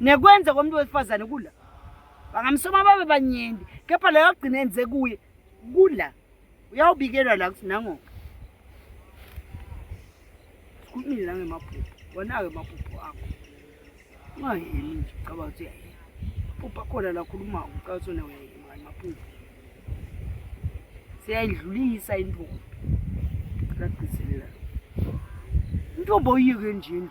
nekwenze komuntu wesifazane kula bangamsoma babe banyenti kepha leyo kugcina enze kuye kula uyawubikelwa la kuthi nango sikhulumile nangemaphupho wona-ke maphupho akho ungayemi nje ucaba ukuthi uyayema maphupho akhona lakhuluma ucaba ukuthi wona uyayema kani maphupho siyayidlulisa intombi cela gcizelela intombi oyiyeke nje endlini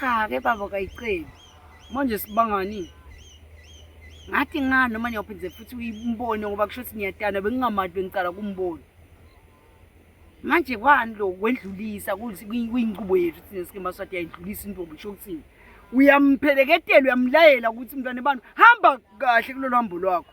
cha ke baba kayiceli manje sibangani ngathi ngani noma ngiyophindze futhi uyimbone ngoba kusho ukuthi ngiyatana bengingamali bengicala kumbona manje kwani lo kwendlulisa kuyinqubo yethu thina sike maswati yayidlulisa intombi kusho ukuthini uyampheleketelwa uyamlayela ukuthi mntwana abantu hamba kahle kulolu hambo lwakho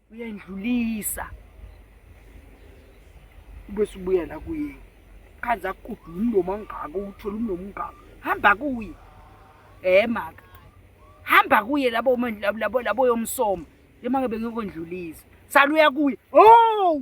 uyandlulisa ubese ubuya la kuye khanze akude umlomo angaka uthole umlomo ungaka hamba kuye eh maka hamba kuye labo labo labo yomsoma lemangabe ngikondlulisa saluya kuye oh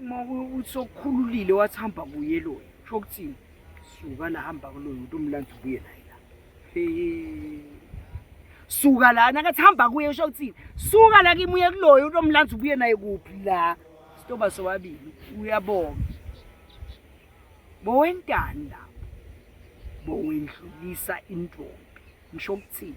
uma kuthi sokukhululile wathi hamba kuye loyo sho ukuthini suka la hamba kuloyo umuntu umlanda ubuye naye la suka la nakathi hamba kuye sho ukuthini suka la kimi uye kuloyo umuntu omlanda ubuye naye kuphi la sitoba sobabili uyabonga bowentani lapho bowendlulisa intombi ngisho ukuthini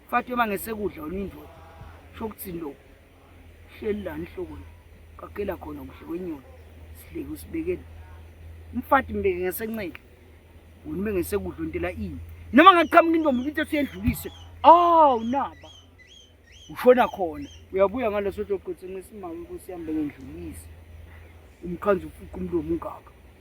Mfati uma ngesekudla wena uyindoda. Sho ukuthi lo. Hleli la inhloko la. Qagela khona kuhle kwenyoni. Sihleke usibekele. Mfati mbeke ngesenxele. Wena ube ngesekudla ontela ini. Noma ngaqhamuka intombi ukuthi siyedlulise. Aw naba. Ushona khona. Uyabuya ngaleso toqothe ngesimama ukuthi sihambe ngendlulise. Umkhanzi ufuqa umlomo ungaka.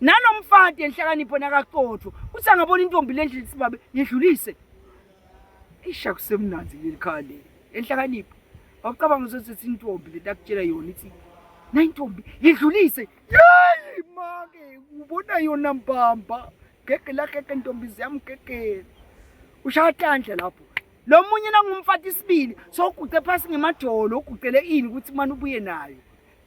nanomfati enhlakanipho nakaqotho uthi angabona intombi le ndlela isibabe yedlulise isha kusemnanzi leli khaya leli enhlakanipho wacabanga uzosethi intombi leti akutshela yona ithi na intombi yedlulise yeyi make ubona yona mbamba gege lagege ntombi ziyamgegela ushaya tandla lapho lo munye nangumfati isibili soguqe phasi ngemajolo uguqele ini ukuthi mani ubuye nayo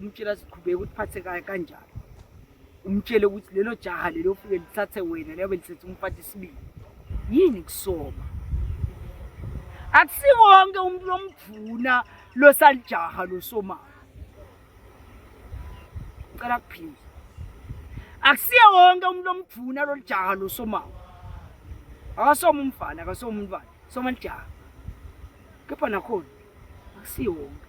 umtshela siqhubeka ukuthi phathe kaye kanjani umtshele ukuthi lelo jaha lelo ofike lithathe wena leyo belisethe umfati isibili yini kusoma akusiwo wonke umuntu omdvuna losalijaha losomayo cela kuphinde akusiye wonke umuntu omdvuna lolijaha losomayo akasoma umfana akasoma umntwana soma lijaha kepha nakhona akusiye wonke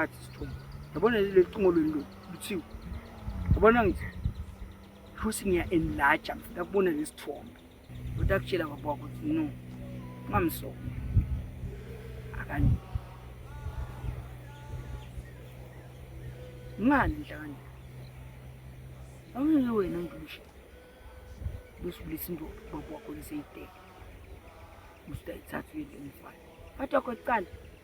athi sithuma yabona leli cingo lweni lo luthiwa yabona ngithi futhi ngiya enlarge ngifuna kubona lesithombe kodwa akutshela baba wakho ukuthi no ungamsona akanye ngani nhlakani awungeke wena ndushe usibulisa into baba wakho liseyidele usitayithatha uyile mfana kodwa kwecala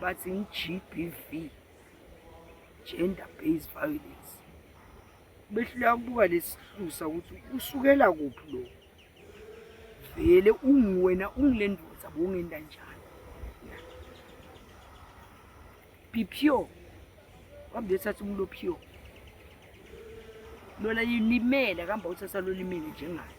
bathi i-GBV gender based violence behluleka kubuka lesihlusa ukuthi usukela kuphi lo vele unguwena ungile ndoda bongenda njani bipyo kambe uthatha umuntu opyo lona lilimele kambe uthatha lolimele njengayo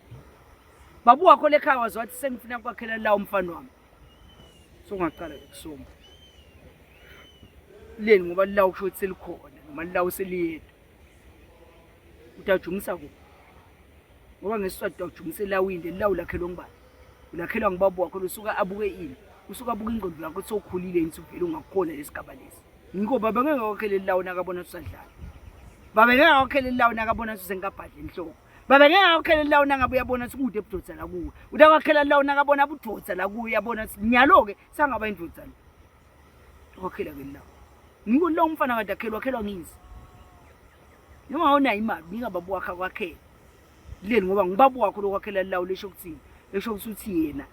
babu wakho lekhaya waze wathi sengifuna kwakhela la umfana wami so ngaqala ukusoma leni ngoba la ukusho ukuthi selikhona noma la useliyedwa utajumisa kuphi ngoba ngesiswati utajumisa elawinde lawu lakhelwa ngubani ulakhelwa ngubabu wakho lusuka abuke ini usuka abuke ingqondo yakho sokhulile yini suvele ungakhona lesigaba lesi ngiko baba ngeke wakheleli lawo nakabona susadlala baba ngeke wakheleli lawo nakabona susengikabhadle enhloko baba ngeke akwakhela lawo nangabe uyabona sikude budoda la kuwe uthi akwakhela lawo nakabona budoda la kuwe uyabona nyalo-ke sangaba indoda lo akwakhela ke lawo ngiko lawo umfana kade akhelwa akhelwa ngizi noma awunayo imali nika baba wakhe akwakhela kuleli ngoba ngubaba wakho lokwakhela lawo lesho ukuthini esho ukuthi uthi yena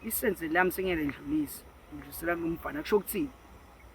isenze lami sengeke ndlulise ngidlulisela kumfana kusho ukuthini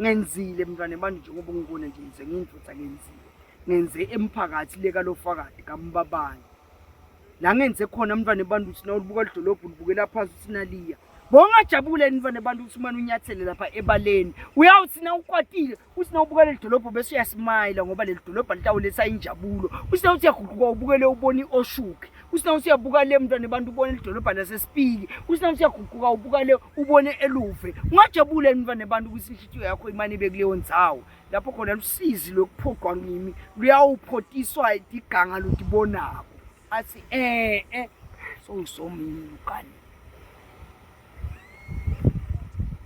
ngenzile mntwana manje njengoba ungibona nje ngize ngiyindoda ngenzile ngenze emphakathi le kalofakadi kambabani la ngenze khona mntwana ebantu ukuthi nawulibuka lidolobha ulibukela phansi ukuthi naliya bongajabule mntwana ebantu ukuthi umane unyathele lapha ebaleni uyawuthi na ukwatile uthi na ubuka leli dolobho bese uyasimayila ngoba leli dolobha litawuletha injabulo uthi na uthi yaguquka ubukele ubone i-oshuki uthi na uthi yabuka le mntwana ebantu ubone lidolobha lasesipiki uthi na uthi yaguquka ubukale ubone eluve ungajabula yini mfana abantu ukuthi inhlitiyo yakho imane ibe kuleyo ndzawo lapho khona lusizi lokuphoqwa ngimi luyawuphotiswa idiganga lutibonako athi eh eh songisomini ukani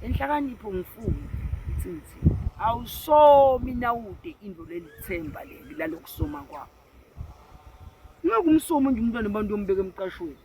enhlakanipho ngifuni ithi awusomi nawude into lelithemba leli lalokusoma kwakho ngeke umsomi nje umntwana abantu yombeka emqashweni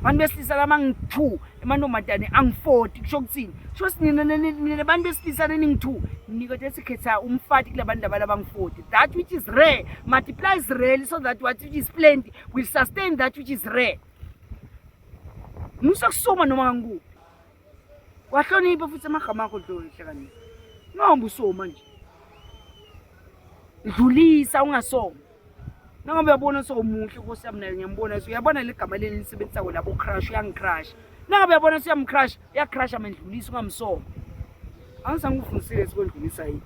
abantu besilisa laba ngi-two emantombazane angi-forty kusho kuthini kusho ukuthi nina nina bantu besilisa neningi-two nikode sikhetha umfati kula bantu labala bangi-forty that which is rare multiplies rarely so that what which is plenty will sustain that which is rare musa kusoma noma kangu wahlonipha futhi amagama akho dlohle kani noma usoma nje dlulisa ungasoma Noma uyabona sowumuhle Nkosi yami naye ngiyambona so uyabona legama leli lisebenzisa wena bo crush uyangicrush. Noma uyabona siyamcrush uyacrush amendlulisa ungamsoma. Angisangifundisile sikwendlulisa yini.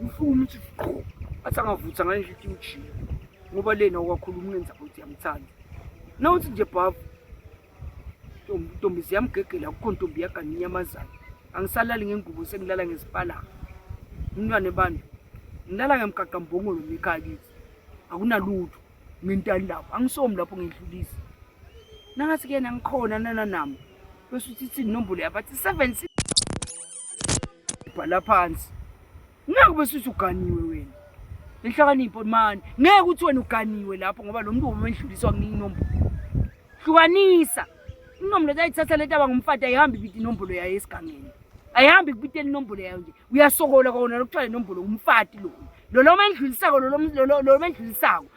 Ngifuna ukuthi qho athi angavutha ngale nhlithi ujika ngoba lena okwakhuluma ungenza ukuthi yamthanda. Nawuthi nje bhavu ntombi ziyamgegela akukho ntombi yagana inyamazana angisalali ngengubo sengilala ngezipalaka umntwana ebandla ngilala ngemgaqa mbongolo ngekhaya kithi akunalutho ngentani lapho angisomi lapho ngidlulisa nangathi kuyena ngikhona nananami bese uthi ithini inombolo yabathi seven bhala phansi ngeke ube suthi uganiwe wena inhlakanipho mani ngeke uthi wena uganiwe lapho ngoba lo mntu womendluliswa kuningi inombolo hlukanisa inombolo zayithatha le taba ngumfati ayihambi ibita inombolo yayo esigangeni ayihambi kubitela inombolo yayo nje uyasokola kona lokuthiwa le nombolo umfati lona lolo mendlulisako lolo mendlulisako